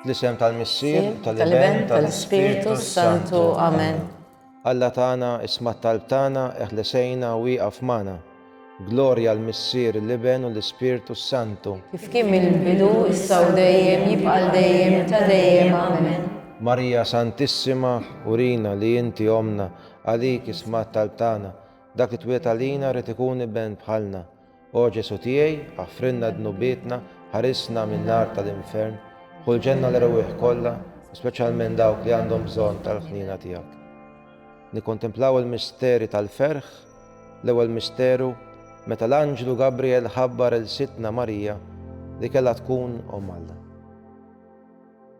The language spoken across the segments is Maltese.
Fl-isem tal-Missier, tal-Iben, tal-Ispirtu Santu. Amen. Alla tagħna, isma' t-talb tagħna, eħlesejna u wieqaf magħna. Glorja l-Missier, l-Iben u l-Ispirtu Santu. Kif kien mill-bidu, issa u dejjem, jibqa' dejjem, ta' dejjem. Amen. Marija Santissima, urina li inti omna, għalik isma' t-talb tagħna. Dak li twiet għalina rrid ikun iben bħalna. O Ġesù tiegħi, aħfrilna dnubietna, ħarisna min-nar tal-infern, ħu l-ġenna l erwieħ kollha, speċjalment dawk li għandhom bżonn tal-ħniena tiegħek. Nikkontemplaw il-misteri tal-ferħ, l-ewwel misteru meta l-anġlu Gabriel ħabbar il sitna Marija li kellha tkun Omm Alla.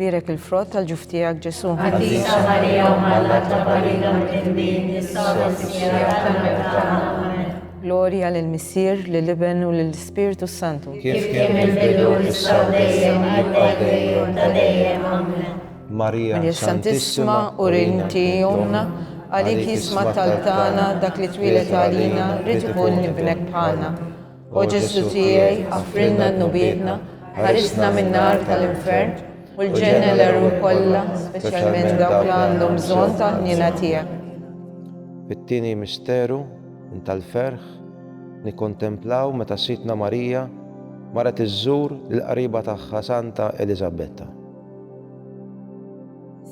Birek il-frott tal-ġuf tiegħek Ġesu. Qaddisa Marija u Malla ta' Barina Mkitbin, jissawra s-sija tal-mewt tagħna. Glorja lil Missier, lil Iben u lil Spirtu Santu. Kif kien il-bidu issa u dejjem jibqa' dejjem ta' dejjem. Amen. Marija Santissima u rinti jomna, għalik jisma' talb tagħna dak li twieled għalina, rid ikun ibnek bħalna. O Ġesu tiegħi, għafrilna dnubietna, ħarisna min-nar tal-infern, u l-ġenna l-għerur kollha, speċjalment dawk li għandhom bżonn tal-ħniena tiegħek. Fit-tieni misteru tal-ferħ nikkontemplaw meta Sidtna Marija marret iżżur lill-qariba tagħha Santa Eliżabetta.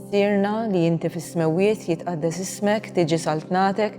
Sirna li inti fis-smewwiet jitqaddes ismek, tiġi saltnatek,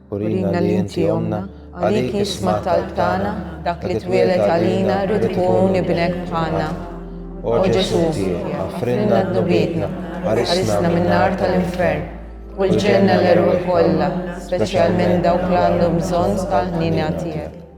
Urina li inti ommna, għalik jisma' talb tagħna, dak li twieled għalina rrid ikun ibnek bħalna. O Ġesù tiegħi, aħfrilna dnubietna, ħarisna min-nar tal-infern, u l-ġenna l-erwieħ kollha, speċjalment dawk li għandhom bżonn tal-ħniena tiegħek.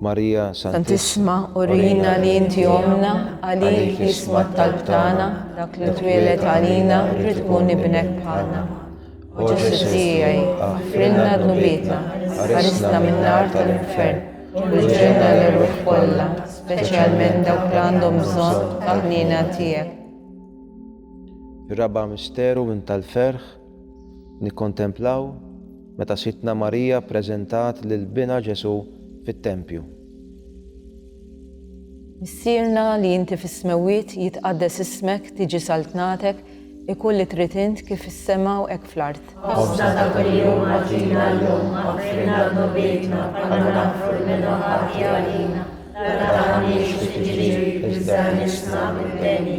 Marija Santissima, urina li inti omna, għalik jisma t-talb tagħna, dak li twieled għalina, rrid tkun ibnek bħalna. O Ġesu tiegħi, aħfrilna dnubietna, ħarisna min-nar tal-infern, u l-ġenna l-ruħ kollha, speċjalment dawk li għandhom bżonn ta' ħniena tiegħek. Raba' misteru minn tal-ferħ Nikkontemplaw meta Sidtna Marija ppreżentat lil binha Ġesù fit-tempju. Missierna li inti fis-smewwiet, jitqaddes ismek, tiġi saltnatek, ikun li trid int kif fis-sema u hekk fl-art. Ħobżna ta' kuljum agħtina llum, aghfirna dnubietna bħalma naghfru lil min hu ħati għalina, la tagħmilniex fi tiġrib, iżda għnisna mid-deni.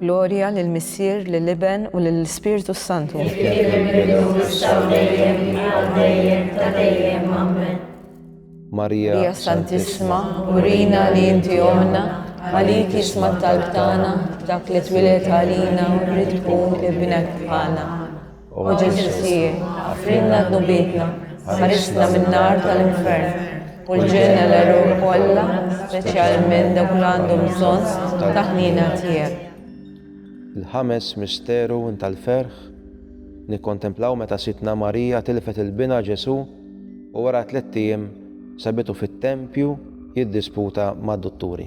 Glorja lill-Missier, lill-Iben u lill-Ispirtu s-Santu. Kif kien mill-bidu, issa u dejjem, għal dejjem ta' dejjem. Ammen. Marija Santissima, urina li inti ommna, għalik jisma' t-talb tagħna, dak li twieled għalina u rrid tkun ibnek bħalna. O Ġesu Sir, għafrinna d-nubietna, ħarisna min-nar tal-infern, u l-ġenna l-eruq kollha, speċjalment dawk li għandhom bżonn ta' ħnina tiegħek. Il-ħames misteru tal-ferħ nikkontemplaw meta Sidna Marija tilfet il-bina Ġesu u wara tliet ijiem sabitu fit-tempju jiddisputa mad-dutturi.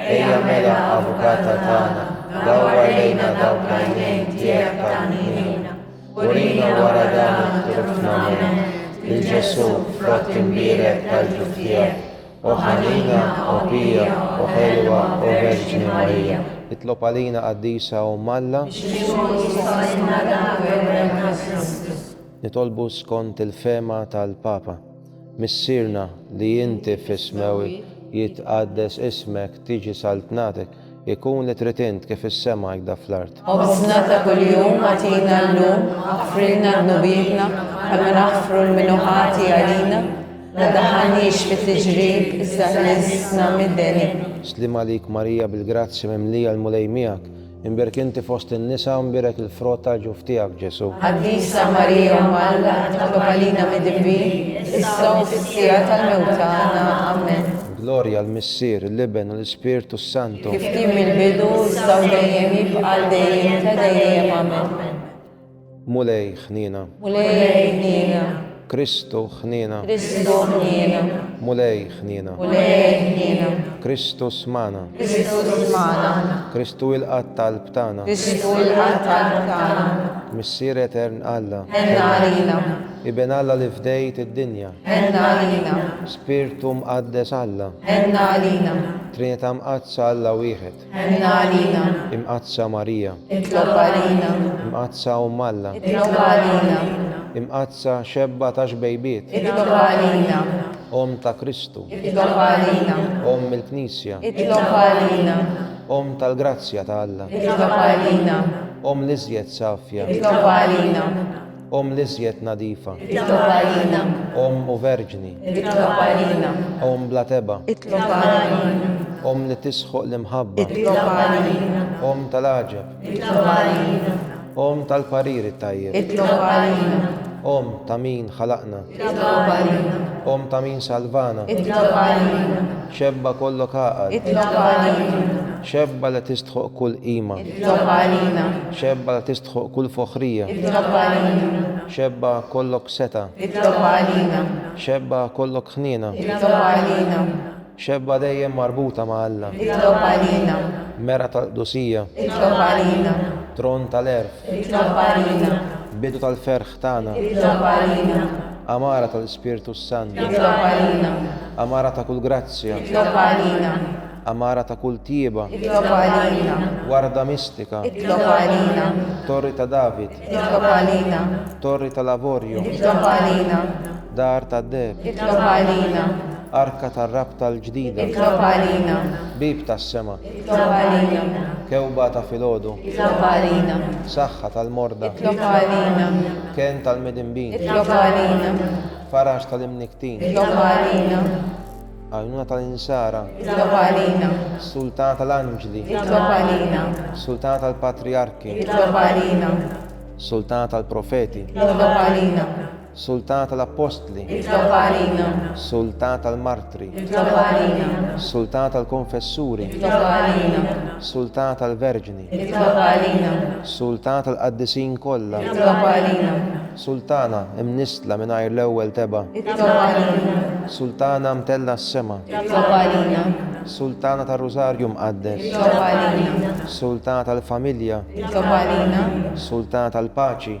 Ejja mela, Avukata tagħna, dawwar lejna dawk l-għajnejn tiegħek tal-ħniena. Urina wara dan it-trufna moment lil Ġesù frott imbierek tal-ġuf tiegħek, O ħanina, O pija, O ħelwa, O Verġni Marija. Itlob għalina Qaddisa Omm Alla. Biex imut jissolilna dan l-gwerwem ħażin. Nitolbu skont il-fehma tal-Papa. Missierna li inti fis-smewwi jitqaddes ismek tiġi saltnatek ikun li trid int kif fis-sema hekda fl-art. Ħobżna ta' kuljum agħtina llum aħfrilna dnubietna bħalma naħfru lmin hu ħati għalina, la daħħalniex fi tiġrib iżda ħlisna mid-deni. Sliem għalik Marija bil-grazzja mimlija l-Mulej miegħek, Imbierk inti fost in-nisa u mbierek il-frott tal-ġuf tiegħek, Ġesù. Qaddisa Marija Omm Alla, itlob għalina midinbin, issa u fis-siegħa tal-mewt tagħna. Amen. Glorja l-Missier, l-Iben u l-Ispirtu s-Santu. Kif kien mill-bidu, issa u dejjem, jibqa' għal dejjem ta' dejjem. Amen. Mulej ħniena. Mulej ħniena. Kristu ħniena. Kristu ħniena. Mulej ħniena. Mulej ħniena. Kristu smana. Kristu smana. Kristu ilqat talb tagħna. Kristu ilqat talb tagħna. Missier Etern Alla. Enna għalina. Iben Alla li fdejt id-dinja. Enna għalina. Spirtu Mqaddes Alla. Enna għalina. Trinità Mqaddsa Alla wieħed. Ħenna għalina. Imqaddsa Marija. Itlob għalina. Imqaddsa Omm Alla. Itlob għalina. Imqaddsa Xebba ta' xbejbiet. Itlob għalina. Omm ta' Kristu. Itlob għalina. Omm il-Knisja. Itlob għalina. Omm tal-grazzja ta' Alla. Itlob għalina. Omm l-iżjed safja. Itlob għalina. Omm l-iżjed nadifa. Itlob għalina. Omm u verġni. Itlob għalina. Omm bla tebgħa. Itlob għalina. Omm li tisħoq l-imħabba. Itlob għalina. Omm tal-għaġeb. Itlob għalina. Omm tal-parir it-tajjeb. Itlob għalina. Omm ta' min ħalaqna. Itlob għalina. Omm ta' min salvana. Itlob għalina. Xebba kollok għaqal. Itlob għalina. Xebba li tistħoq kull qima. Itlob għalina. Xebba li tistħoq kull foħrija. Itlob għalina. Xebba kollok seta. Itlob għalina. Xebba kollok ħniena. Itlob għalina. Xebba dejjem marbuta ma' Alla. Itlob għalina. Mera tal-qdusija. Itlob għalina. Tron tal-għerf. Itlob għalina. Bidu tal-ferħ. tagħna. Itlob għalina. Għamara tal-Ispirtu s-Sant. Itlob għalina. Għamara ta' kull grazzja. Itlob għalina. Għamara ta' kull tjieba. Itlob għalina. Warda mistika. Itlob għalina. Torri ta' David. Itlob għalina. Torri tal-Avorju. Itlob għalina. Dar ta' Deb. Itlob għalina. Arka tar-Rabta l-Ġdida. Itlob għalina. Bib tas-Sema. Itlob għalina. Kewba ta' filgħodu. Itlob għalina. Saħħa tal-morda. Itlob għalina. Kenn tal-midinbin. Itlob għalina. Faraġ tal-imniktin. Itlob għalina. Għajnuna tal-insara. Itlob għalina. Sultana tal-anġli. Itlob għalina. Sultana tal-patriarki. Itlob għalina. Sultana tal-profeti. Itlob għalina. Sultana tal-Appostli. Itlobha għalina. Sultana tal-Martri. Itlobha għalina. Sultana tal-Konfessuri. Itlobha għalina. Sultana tal-Verġni. Itlobha għalina. Sultana tal-Qaddisin kollha. Itlobha għalina. Sultana imnissla mingħajr l-ewwel tebgħa. Itlobha għalina. Sultana mtellgħa s-sema. Itlobha għalina. Sultana tar-Rużarju Mqaddes. Itlobha għalina. Sultana tal-Familja. Itlobha għalina. Sultana tal-Paċi.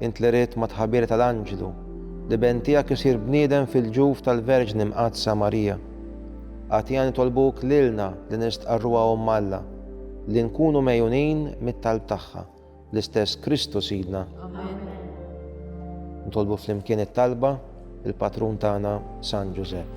Int li ridt mat-tħabira tal-anġlu li Benn tiegħek isir bniedem fil-ġuf tal-Verġni Mqaddsa Marija, agħtiha nitolbuk lilna li nistqarruha Omm Alla, li nkunu megħjunin mit-talb tagħha, l-istess Kristu Sidna. Nitolbu flimkien it-talba, il-Patrun tagħna San Ġużepp.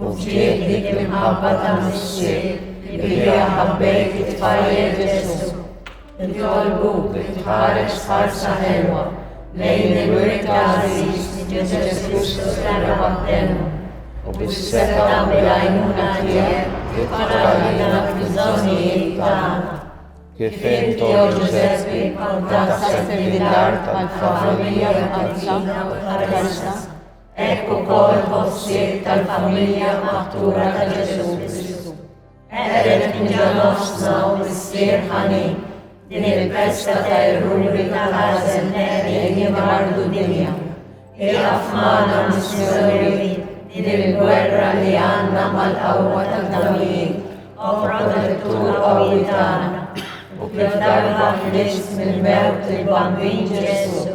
U fdieħ dik l-imħabba ta' missier li biha ħabbejt it-tfajjel Ġesù. Nitolbuk li tħares ħarsa ħelwa lejn il-wirt għażiż Ġesù Kristu sena waħdenu u bis-seta' u l-għajnuna tiegħek titfaralina fil-żonijiet tagħna. Kif inti o Ġużeppi għandha s-sempilità tal-familja mqaddsa tal-Krista. Hekk ukoll ħossiet tal-familja maħtura ta' Ġesù Kristu. Qegħdet minn ġa nofsna u missier ħanin din il-festa ta' erruri ta' ħażen qegħdi jimmardu dinja. Iqaf magħna missjonieri din il-gwerra li għandna mal-qawwa tad-damijiet u protettur qawwi tagħna u kif darba ħlist mill-mewt il-Bambin Ġesù